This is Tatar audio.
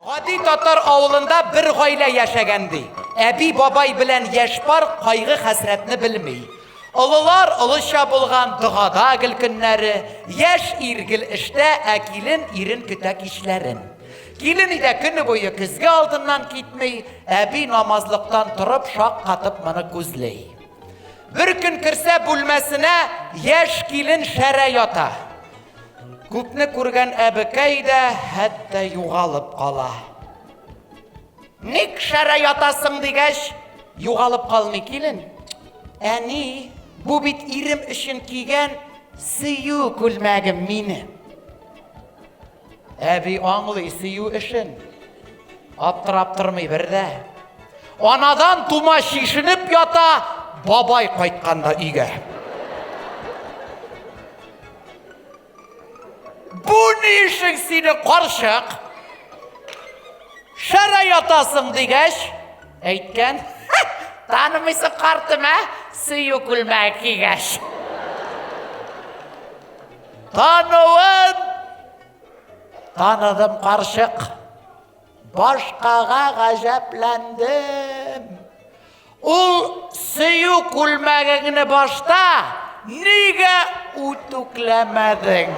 Гади татар авылында бер гаилә яшәгән, ди. Әби-бабай белән яшь пар кайгы-хәсрәтне белми. Олылар олыча булган, догада гел көннәре, яшь ир гел эштә, ә килен ирен көтә кичләрен. Килен өйдә көне буе көзге алдыннан китми, әби намазлыктан торып шаккатып моны күзли. Бер көн керсә бүлмәсенә, яшь килен шәрә ята. Күпне күргән әбекәй дә хәтта югалып кала. Ник шәрә ятасың дигәч, югалып калмый килен. Әни, бу бит ирем өчен кигән сөю күлмәгем мине. Әби аңлый сөю эшен. Аптырап тормый бер дә. Анадан тума шишенеп ята, бабай кайтканда өйгә. Бу ни эшең сине карчык? Шәрә ятасың дигәч, әйткән. Танымыйсы картым, ә? Сөю күлмәге кигәч. Тануын таныдым карчык. Башкага гаҗәпләндем. Ул сөю күлмәгеңне башта нигә үтүкләмәдең?